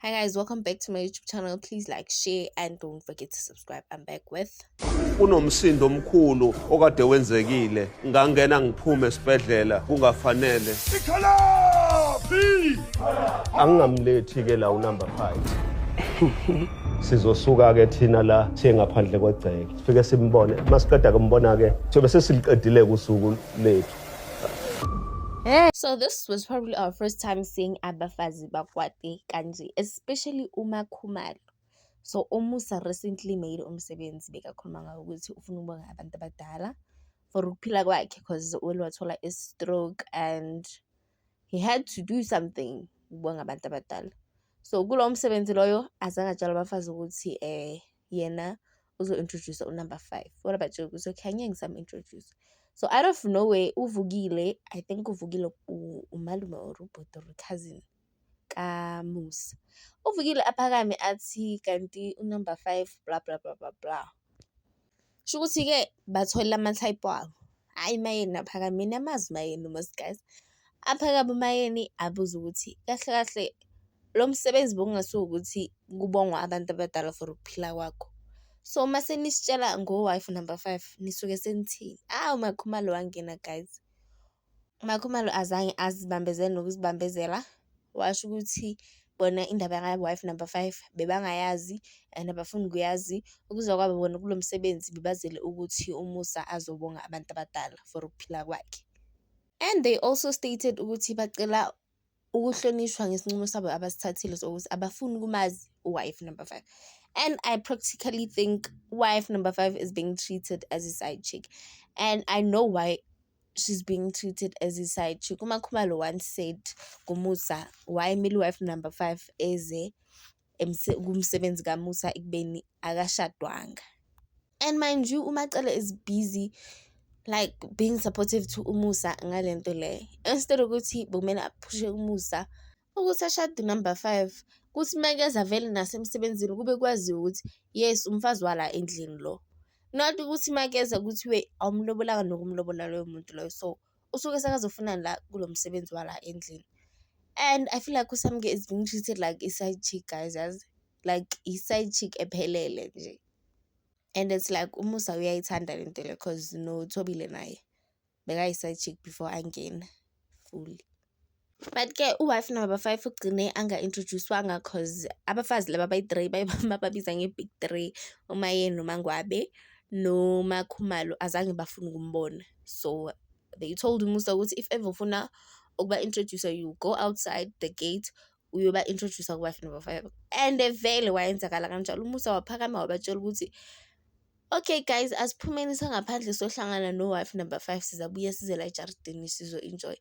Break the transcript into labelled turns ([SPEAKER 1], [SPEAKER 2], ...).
[SPEAKER 1] Hi guys, welcome back to my YouTube channel. Please like, share and don't forget to subscribe. I'm back with kunomsindo
[SPEAKER 2] omkhulu okade wenzekile ngangena ngiphume esibhedlela kungafanele angingamlethi ke la unumber 5 sizosuka ke thina la siye ngaphandle kwegceke sifike simbone masiqeda kumbona ke sobe sesiliqedile kusuku lethu
[SPEAKER 1] So this was probably our first time seeing Abafazi abafazi bakwati kanje especially uMakhumalo. So uMusa recently made umsebenzi bekakhuluma ngawo ukuthi ufuna ukubonga abantu abadala for ukuphila kwakhe cause uwele wathola i-stroke and he had to do something ukubonga abantu abadala. So kulowo msebenzi loyo azange atshale abafazi ukuthi um yena uzo introduce u number 5 what about you so can you some introduce so out of nowhere uvukile i think uvukile umalume or ubhuti or cousin kamusa uvukile aphakame athi kanti unumber 5 bla bla bla bla bla Kusho ukuthi-ke bathola amathayiphu abo. Hhayi mayeni aphakame, niyamazi uMayeni uMaskandi. Aphakame uMayeni abuze ukuthi kahle kahle lo msebenzi bokungasuye ukuthi kubongwa abantu abadala for ukuphila kwakho. So uma senisitshela ngo-wife number five nisuke senithini? Awu uMaKhumalo wangena guys. UMaKhumalo azange azibambezele nokuzibambezela washo ukuthi bona indaba yaka-wife number five bebangayazi and abafuni kuyazi. Ukuza kwabo bona kulo msebenzi bebazele ukuthi uMusa azobonga abantu abadala for ukuphila kwakhe and they also stated ukuthi bacela ukuhlonishwa ngesinqumo sabo abasithathile sokuthi abafuni ukumazi uWife number five. And I practically think wife number five is being treated as a side chick. And I know why she's being treated as a side chick. UMakhumalo once said kuMusa, why mele wife number five eze kumsebenzi kaMusa ekubeni akashadwanga. And mind you uMacele is busy like being supportive to uMusa ngale nto le instead ukuthi bekumele aphushe uMusa ukuthi ashade number five kuthi uma keza vele nasemsebenzini kube kwaziwa ukuthi yes umfazi wala endlini lo not ukuthi uma keza kuthiwe awumlobolanga nokumlobola loyo muntu loyo so usuke sekazofunani la kulo msebenzi wala endlini and I feel like uSamke is being treated like i-side chick guys yazi like i-side chick ephelele nje and it's like uMusa uyayithanda le nto le cause noThobile naye bekayi-side chick before angena fully. But ke u-wife number five ugcine anga-introduce-wanga cause abafazi laba abayi-three bababiza nge-big three, uMayeni noMaNgwabe noMaKhumalo azange bafune ukumbona. So they told uMusa ukuthi if ever ufuna ukuba-introduce-a you go outside the gate uyoba-introduce-a ku-wife number five. And vele kwayenzakala kanjalo, uMusa waphakama wabatshela ukuthi, okay guys asiphumeni sangaphandle siyohlangana no-wife number five sizabuya size la ejaridini sizo-enjoy-a.